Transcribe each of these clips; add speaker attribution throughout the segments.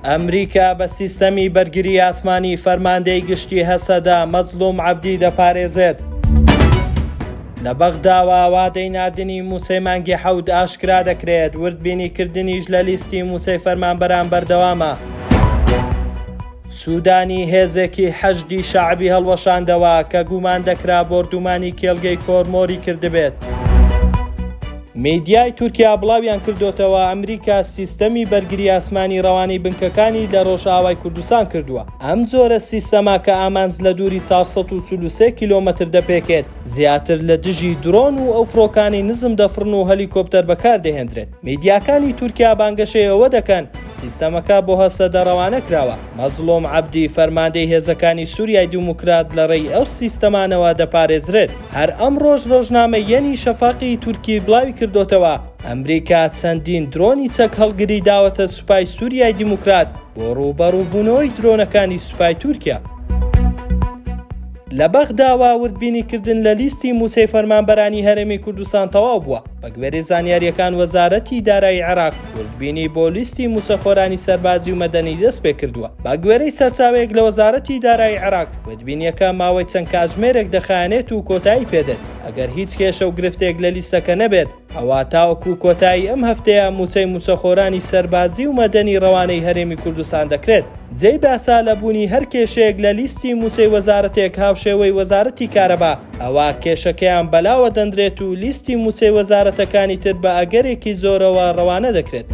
Speaker 1: ئەمریکا بە سیستەمی بەرگری ئاسمانی فەرماندەی گشتی هەسەدە مەزلوم عەبدی دەپارێزێت. لە بەغداوە ئاوادەی ناردنی مووسەی مانگی حەوت ئاشکرا دەکرێت وردبینیکردنیش لە لیستی مووسەی فەرمانبەران بەردەوامە. سوودانی هێزێکی حەشدی شەعبی هەڵوەشاندەوە کە گومان دەکرا بۆردومانی کێلگەی کۆرمۆری کردبێت. میدیای تورکیا بڵاویان کردۆتەوە ئەمریکا سیستەمی بەرگری ئاسمانی ڕەوانەی بنکەکانی لە ڕۆژئاوای کوردستان کردووە ئەم جۆرە سیستەما کە ئامانج لە دووری 443 کیلۆمەتر دەپێکێت زیاتر لە دژی درۆن و ئەو فڕۆکانی نزم دەفڕن و هەلیکۆپتەر بەکاردەهێندرێت میدیاکانی تورکیا بانگەشەی ئەوە دەکەن سیستەمەکە بۆ هەسەدە ڕەوانە کراوە. مەزڵوم عەبدی، فەرماندەی هێزەکانی سوریای دیموکرات لە ڕێی ئەو سیستەمانەوە دەپارێزرێت. هەر ئەمڕۆش ڕۆژنامەی یەنی شەفاقی تورکی بڵاوی کردۆتەوە، ئەمریکا چەندین درۆنی چەک هەڵگری داوەتە سوپای سوریای دیموکرات بۆ ڕووبەڕووبوونەوەی درۆنەکانی سوپای تورکیا. لە بەغداوە وردبینی کردن لە لیستی مووچەی فەرمانبەرانی هەرێمی کوردستان تەواو بووە بەگوێرەی زانیارییەکان وەزارەتی دارایی عێراق وردبینی بۆ لیستی مووچەخۆرانی سەربازی و مەدەنی دەست پێ کردووە بەگوێرەی سەرچاوەیەک لە وەزارەتی دارایی عێراق وردبینیەکە ماوەی چەند کاتژمێرێک دەخایەنێت و کۆتایی پێدێت ئەگەر هیچ کێشە و گرفتێک لە لیستەکە نەبێت ئەوا تاوەکو کۆتایی ئەم هەفتەیە مووچەی مووچەخۆرانی سەربازی و مەدەنی ڕەوانەی هەرێمی کوردستان دەکرێت. جێی باسە لە بوونی هەر کێشەیەک لە لیستی مووچەی وەزارەتێک هاوشێوەی وەزارەتی کارەبا ئەوا کێشەکەیان بەلاوە دەنرێت و لیستی مووچەی وەزارەتەکانی تر بە ئەگەرێکی زۆرەوە ڕەوانە دەکرێت.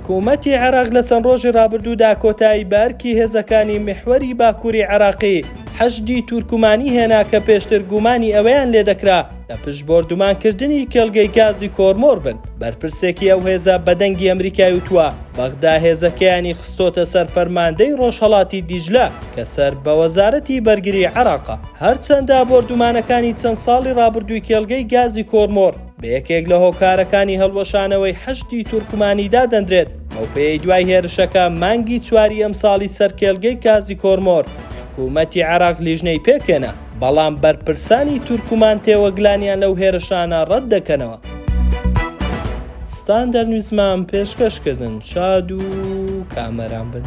Speaker 1: حکوومەتی عێراق لە چەند ڕۆژی ڕابردوودا کۆتایی بە ئەرکی هێزەکانی میحوەری باکووری عێراقی حەشدی تورکمانی هێنا کە پێشتر گومانی ئەوەیان لێدەکرا لە پشت بۆردومانکردنی کێڵگەی گازی کۆرمۆر بن. بەرپرسێکی ئەو هێزە بە دەنگی ئەمریکای وتووە، بەغدا هێزەکەیانی خستۆتە سەر فەرماندەی ڕۆژهەڵاتی دیجلە کە سەر بە وەزارەتی بەرگری عێراقە. هەرچەندە بۆردومانەکانی چەند ساڵی ڕابردووی کێڵگەی گازی کۆرمۆر بە یەکێک لە هۆکارەکانی هەڵوەشانەوەی حەشدی تورکمانی دادەندرێت، بەوپێیەی دوای هێرشەکە مانگی چواری ئەمساڵی سەر کێڵگەی گازی کۆرمۆر، حکوومەتی عێراق لیژنەی پێکهێنا. بەڵام بەرپرسانی تورکمان تێوەگلانیان لەو هێرشانە ڕەت دەکەنەوە. ستاندەر نیوزمان پێشکەش کردن شاد و کامەران بن.